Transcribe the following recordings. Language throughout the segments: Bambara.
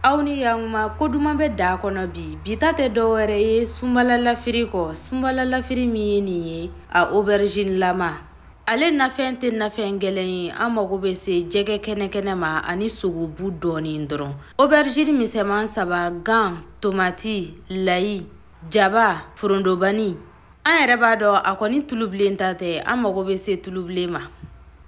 aw ni yankuma ko duman bɛ da kɔnɔ bi bi ta tɛ dɔ wɛrɛ ye sunbala lafiri kɔ sunbala lafiri min ye nin ye a aubergine lama ale nafɛn tɛ nafɛn gɛlɛn ye an mago bɛ se jɛgɛ kɛnɛkɛnɛ ma ani sogobu dɔɔnin dɔrɔn aubergine misɛman saba gan tomati layi jaba forondobani an yɛrɛ b'a dɔn a kɔni tulubilen ntan tɛ an mago bɛ se tulubilen ma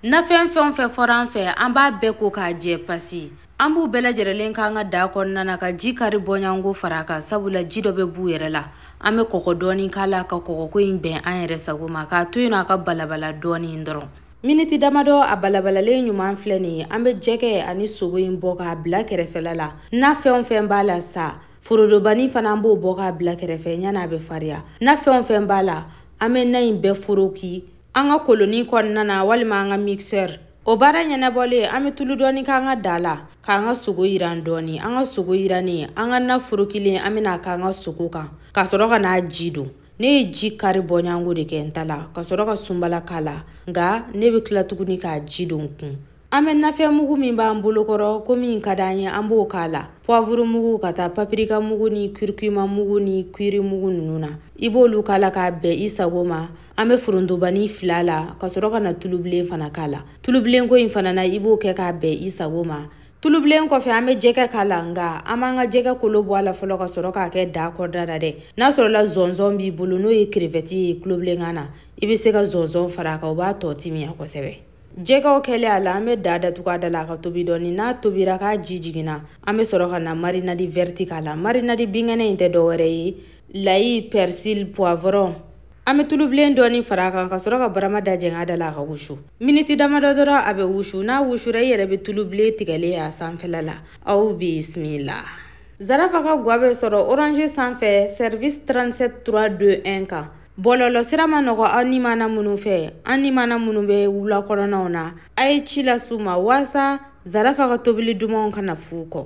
nafɛn fɛn o fɛn fɔra an fɛ an b'a bɛɛ ko k'a jɛ pasi an b'u bɛɛ lajɛrɛlen k'an ka daa kɔnɔna na ka ji kari bɔɲango fara a kan sabula ji dɔ bɛ b'u yɛrɛ la an bɛ kɔgɔ dɔɔni k'a la ka kɔgɔko in bɛn an yɛrɛ sago ma k'a to yen a ka balabala dɔɔni dɔrɔn miniti damadɔ a balabalalen ɲuman filɛ nin ye an bɛ jɛgɛ ani sogo in bɔ k'a bila kɛrɛfɛla la nafɛn o fɛn b'a la sa forodobani fana an b'o bɔ k'a bila kɛrɛfɛ yanni a bɛ fariya nafɛn o fɛn b'a la an bɛ na in bɛɛ foroki an ka kolonin kɔnɔna na walima an ka mixeur o baara ɲɛnabɔlen an bɛ tulu dɔɔni k'an ka da la k'an ka sogo yiran dɔɔni an ka sogo yirannen an ka na forokilen an bɛn'a k'an ka sogo kan ka sɔrɔ ka n'a ji don ne ye ji kari bɔɲango de kɛ n ta la ka sɔrɔ ka sunbala k'a la nka ne bɛ tila tuguni k'a ji don kun an bɛ nafɛn mugu min b'an bolokɔrɔ ko min ka d'an ye an b'o k'a la poivre mugu ka taa paprika mugu ni curcuma mugu ni curry mugu ninnu na i b'olu k'a la k'a bɛn i sago ma an bɛ forontobani fil'a la ka sɔrɔ ka na tulubilen fana k'a la tulubilenko in fana na i b'o kɛ k'a bɛn i sago ma tulubilen kɔfɛ an bɛ jɛgɛ k'a la nka an b'an ka jɛgɛ kolo bɔ a la fɔlɔ ka sɔrɔ k'a kɛ da kɔnɔna na dɛ n'a sɔrɔla zɔnzɔn b'i bolo n'o ye crevette ye tubabukan na i bɛ se ka zɔnzɔn fara a kan o b'a tɔ timiya kosɛbɛ jɛgɛw kɛlen a la an bɛ da datugu a da la ka tobi dɔɔni n'a tobira k'a ji jigin an bɛ sɔrɔ ka na marinade verte k'a la marinade binkɛnɛ in tɛ dɔwɛrɛ ye layi persil poivron An bɛ tulubilen dɔɔni fara a kan ka sɔrɔ ka barama da jɛngɛ a da la a ka wusu miniti damadɔ dɔrɔn a bɛ wusu n'a wusura i yɛrɛ bɛ tulubilen tigɛlen ye a sanfɛla la aw bisimila zarafa ka gwa bɛ sɔrɔ orange sanfɛ service 37 321 kan bɔlɔlɔ sira man nɔgɔ an nimana minnu fɛ an nimana minnu bɛ wula kɔnɔnaw na a ye ci las'u ma walasa zarafa ka tobili dumanw kana f'u kɔ